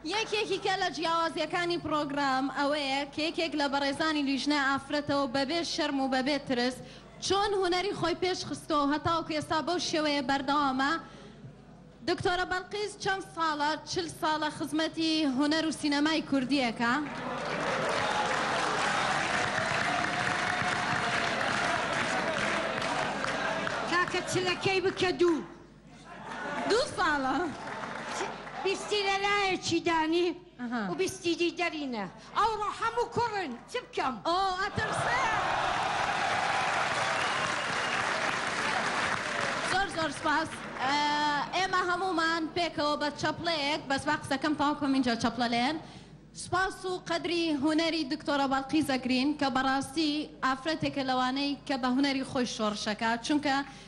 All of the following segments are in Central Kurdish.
یەکێکیکە لە جیاوازیەکانی پرۆگرام ئەوەیە کە یەکێک لە بەڕێزانی لیژنە ئافرەتەوە بەبێ شەرم و بەبێ ترس چۆن هونەری خۆی پێش خستۆ هەتاوکو ئێستا بەو شێوەیە بەردەوامە دکتۆرە بەڵقیس چەند ساڵە؟ چل ساڵە خزمەتی هونەر و سینەمای کوردی ئەکا. کاکە چلەکەی بکە دوو. دوو ساڵە. بیستی لە لایەکی دانی. و بیستی دی دەرینە ئەوڕۆ حەموو کوڕن چ بکەم ئۆ ئەترسم. زۆر زۆر سوپاس ئێمە هەموومان پێکەوە بە چەپڵەیەک بەس با قسەکەم تەواو بکەم ئینجا چەپڵە لێن سوپاس و قەدری هونەری دکتۆرە بەڵقیس ئەگرین کە بەڕاستی ئافرەتێکە لەوانەی کە بە هونەری خۆی شۆڕش ئەکات چونکە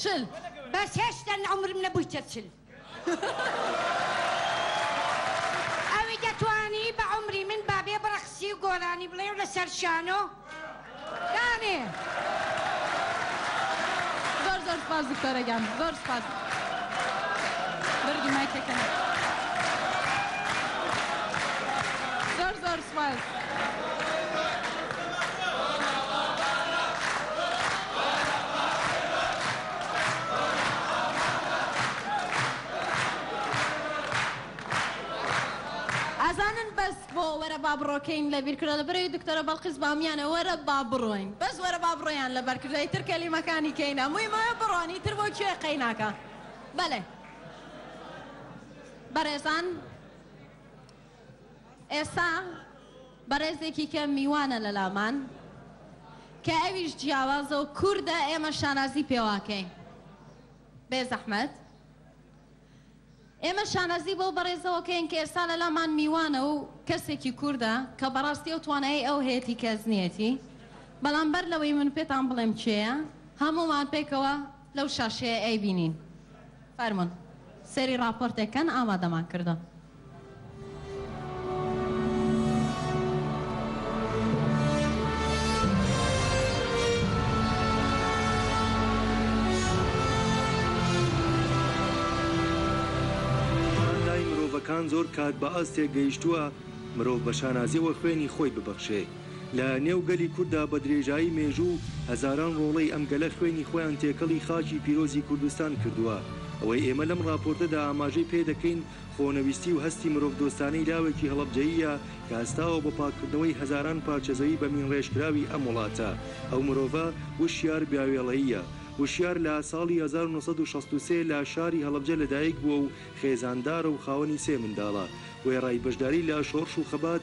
چل بەس هێشتا عومرم نەبویتە چل. ئەوی دەتوانی بە عومری من بابێ بڕەخسی و گۆرانی بڵێ و لەسەر شانۆ دانێ. زۆر زۆر سپاس دکتۆرە گیان زۆر سپاس بەرگی مایکەکەم. ئەزانن بەس بۆ وەرە با بڕۆکەین لە بیر کرۆ لە بەرەی دکتۆرە بەڵقیس بامیانە وەرە با بڕۆین بەس وەرە با بڕۆیان لە بەر کردە ئیتر کەلیمەکانی کەینە موی مەوێ بڕۆن ئیتر بۆ کوێ قەیناکە بەلێ بەرێزان ئێستا بەڕێزێکی کە میوانە لەلامان کە ئەویش جیاوازە و کوردە ئێمە شانازی پێواکەین بێزەحمەت ئێمە شانازی بەو بەڕێزەوە کەین کە ئێستا لەلامان میوانە و کەسێکی کوردە کە بەڕاستی ئەو توانایی ئەو هەیەتی کە ئەزنیەتی بەڵام بەر لەوەی من پێتان بڵێم کێیە هەموومان پێکەوە لەو شاشەیە ئەیبینین فەرموون سەیری ڕاپۆرتێک کەن ئامادەمان کردوون. توانای مرۆڤەکان زۆر کات بە ئاستێک گەیشتووە مرۆڤ بە شانازیەوە خوێنی خۆی ببەخشێ. لە نێو گەلی کورددا بە درێژایی مێژوو هەزاران ڕۆڵەی ئەم گەلە خوێنی خۆیان تێکەڵی خاکی پیرۆزی کوردستان کردووە، ئەوەی ئێمە لەم ڕاپۆرتەدا ئاماژەی پێ دەکەین خۆنەویستی و هەستی مرۆڤدۆستانەی لاوێکی هەڵەبجەییە کە هەستاوە بۆ پاککردنەوەی هەزاران پارچە زەوی بەمینڕێژکراوی ئەم وڵاتە. ئەو مرۆڤە وشیار بیاوێڵەییە. وشیار لە ساڵی هەزار و نۆ سەد و شەست و سێ لە شاری هەڵەبجە لەدایکبووە و خێزاندارە و خاوەنی سێ منداڵە. وێڕای بەشداری لە شۆڕش و خەبات،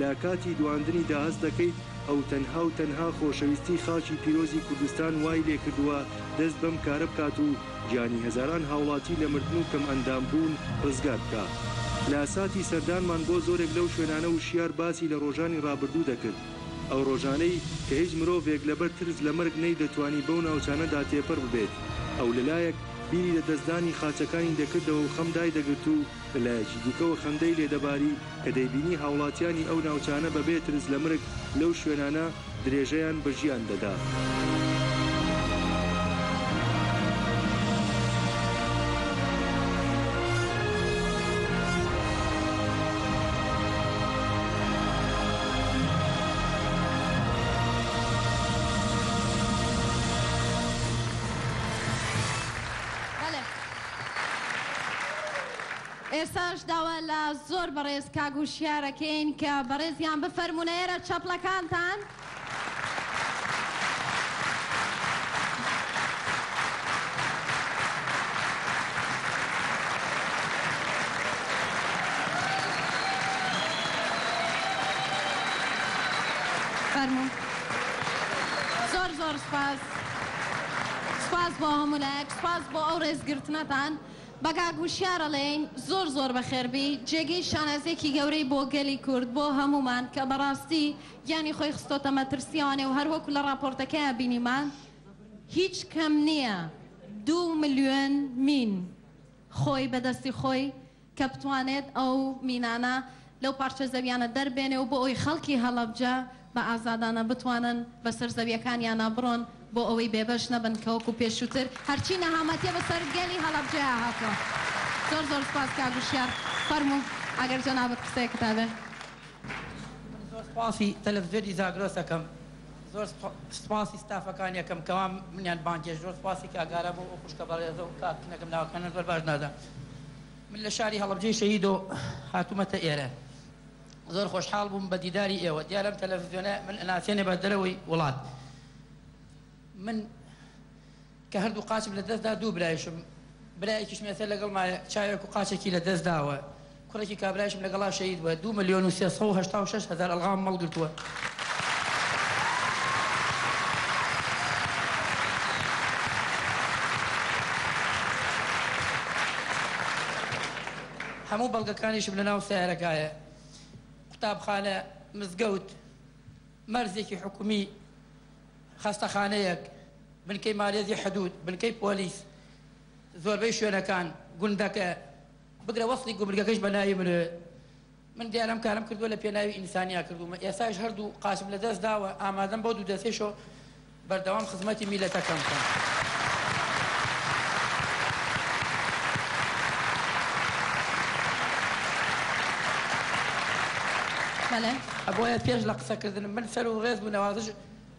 لە کاتی دواندنی دا هەست دەکەیت ئەو تەنها و تەنها خۆشەویستی خاکی پیرۆزی کوردستان وای لێ کردووە دەست بەم کارە بکات و گیانی هەزاران هاوڵاتی لە مردن و کەم ئەندام بوون ڕزگار بکا. لە ساتی سەردانمان بۆ زۆرێک لەو شوێنانە وشیار باسی لە ڕۆژانی ڕابردوو دەکرد، ئەو ڕۆژانەی کە هیچ مرۆڤێک لەبەر ترس لە مەرگ نەی دەتوانی بەو ناوچانە دا تێپەر ببێت، ئەو لە لایەک بیری لە دەستدانی خاچەکانی دەکردەوە و خەم دای دەگرت و لە لایەکی دیکەوە خەندەی لێ دەباری، کە دەیبینی هاوڵاتیانی ئەو ناوچانە بە بێ ترس لە مرگ لەو شوێنانە درێژەیان بە ژیان دەدا. ئێستاش داوا لە زۆر بەڕێز کاک هوشیار ئەکەین کە بەڕێزیان بفەرموون ئەرە چەپڵەکانتان. فەرموون. زۆر زۆر سوپاس. سوپاس بۆ هەموو لایەک. سوپاس بۆ ئەو ڕێزگرتنەتان. بە کاک وشیار ئەڵێین زۆر زۆر بەخێربی جێگەی شانازیەکی گەورەی بۆ گەلی کورد بۆ هەموومان کە بەڕاستی گیانی خۆی خستۆتە مەترسی ئەوانەی و هەروەکو لە ڕاپۆرتەکەیا بینیمان هیچ کەم نیە دوو ملیۆن مین خۆی بەدەستی خۆی کە بتوانێت ئەو مینانە لەو پارچە زەویانە دەربێنێ و بۆ ئەوەی خەڵکی هەڵەبجە بە ئازادانە بتوانن بە سەر زەویەکانیانا بڕۆن بۆ ئەوەی بێبەش نەبن کە وەکو پێشووتر هەرچی نەهامەتیە بە سەر گەلی هەڵەبجەیا هاتووە. زۆر زۆر سوپاس کاک وشیار فەرموو ئەگەر جەنابت قسەیەکت هەبێ. من زۆر سوپاسی تەلەفزیۆنی زاگرۆس ئەکەم زۆر سوپاسی ستافەکانی ئەکەم کەوا منیان بانگێشت زۆر سوپاسی کاک ئارام و ئەو خوشکە بەڕێزە و کاک نەکەم ناوەکانیان زۆر باش نازانم. من لە شاری هەڵەبجەی شەهیدۆ هاتوومەتە ئێرە. زۆر خۆشحاڵ بووم بە دیداری ئێوە. دیارە ئەم تەلەفزیۆنە من ئەناسێنێ بە دەرەوەی وڵات. من کە هەردوو قاچم لە دەست دا دوو برایشم، برایەکیشم ئێستا لەگەڵمایە چاوێک و قاچێکی لە دەست داوە. کوڕێکی کابرایشم لەگەڵا شەهید بووە. دوو ملیۆن و سێ سەد و هەشتا و شەش هەزار ئەڵغام مەڵ گرتووە. هەموو بەڵگەکانیشم لەناو سەیارەکایە، قوتابخانە، مزگەوت، مەرزێکی حکومی، خەستەخانەیەک، بنکەی مالێزی حدود، بنکەی پۆلیس، زۆربەی شوێنەکان، گوندەکە، بگرە وەسڵی گومرگەکەش بەناوی منە. من دیار ئەم کارەم کردوە لە پێناوی ئینسانیا کردومە ئێستاش هەردوو قاچم لە دەست داوە ئامادەم بۆ دوو دەستیشەوە بەردەوام خزمەتی میلەتەکەم بکەم. بەڵێ ئەبۆیە پێش لە قسەکردن من سەر و ڕێز بوو نەوازش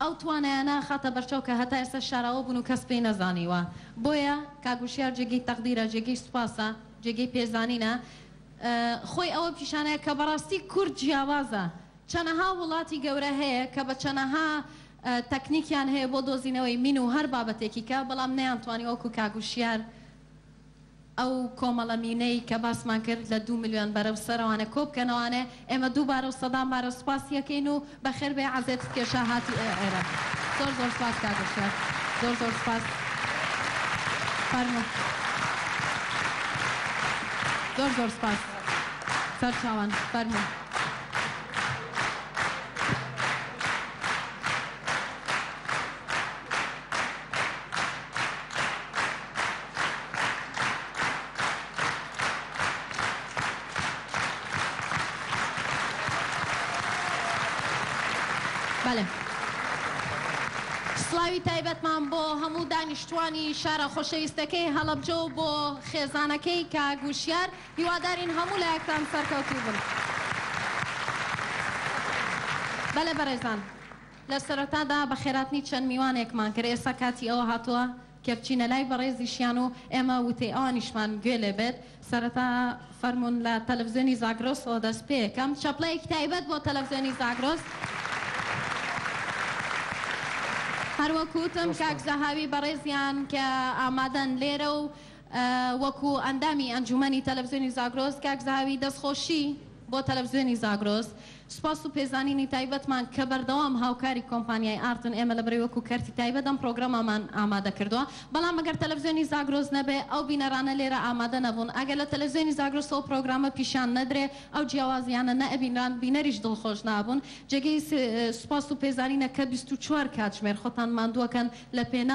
ئەو توانایانە ئەخاتە بەرچاو کە هەتا ئێستا شاراوە بوون و کەس پێی نەزانیوە. بۆیە کاک وشیار جێگەی تەقدیرە، جێگەی سوپاسە، جێگەی پێزانینە. خۆی ئەوە پیشانەیە کە بەڕاستی کورد جیاوازە. چەنەها وڵاتی گەورە هەیە کە بە چەنەها تەکنیکیان هەیە بۆ دۆزینەوەی مین و هەر بابەتێکی کە، بەڵام نەیانتوانی وەکوو کاک وشیار. ئەو کۆمەڵە مینەی کە باسمان کرد لە دوو ملیۆن بەرەو سەرەوانە کۆبکەنەوانێ ئێمە دووبارە و سەدان بارە سوپاسی ئەکەین و بەخێر بێی عەزێت ستکێشا هاتی ئێ ئێرە زۆر زۆر سوپاس کاک وشیار زۆر زۆر سوپاس فەرموو زۆر زۆر سوپاس سەرچاوان فەرموو. سڵاوی تایبەتمان بۆ هەموو دانیشتوانی شارە خۆشەویستەکەی هەڵەبجە و بۆ خێزانەکەی کاک وشیار هیوادارین هەموو لایەکتان سەرکەوتوو بن. بەلێ بەرێزان لە سەرەتادا بەخێراتنی چەند میوانێکمان کرد ئێستا کاتی ئەوە هاتووە کە بچینە لای بەڕێزیشیان و ئێمە وتەی ئەوانیشمان گوێ لێ بێت. سەرەتا فەرموون لە تەلەفزیۆنی زاگرۆسەوە دەست پێ کەم چەپڵەیەکی تایبەت بۆ تەلەفزیۆنی زاگرۆس. هەر وەک وتم کاک زەهاوی بەڕێزیان کە ئامادەن لێرە و وەکو ئەندامی ئەنجوومەنی تەلەفزیۆنی زاگرۆس کاک زەهاوی دەستخۆشی بۆ تەلەفزیۆنی زاگرۆس. سوپاس و پێزانینی تایبەتمان کە بەردەوام هاوکاری کۆمپانیای ئارتن، ئێمە لە بەرەی وەکو کەرتی تایبەت ئەم پرۆگرامەمان ئامادە کردووە، بەڵام ئەگەر تەلەفزیۆنی زاگرۆس نەبێ ئەو بینەرانە لێرە ئامادە نەبوون، ئەگەر لە تەلەفزیۆنی زاگرۆسەوە پرۆگرامە پیشان نەدرێ ئەو جیاوازیانە نەئەبینران، بینەریش دڵخۆش نابوون، جێگەی سوپاس و پێزانینە کە بیست و چوار کاتژمێر خۆتان ماندووەکەن لە پێناو.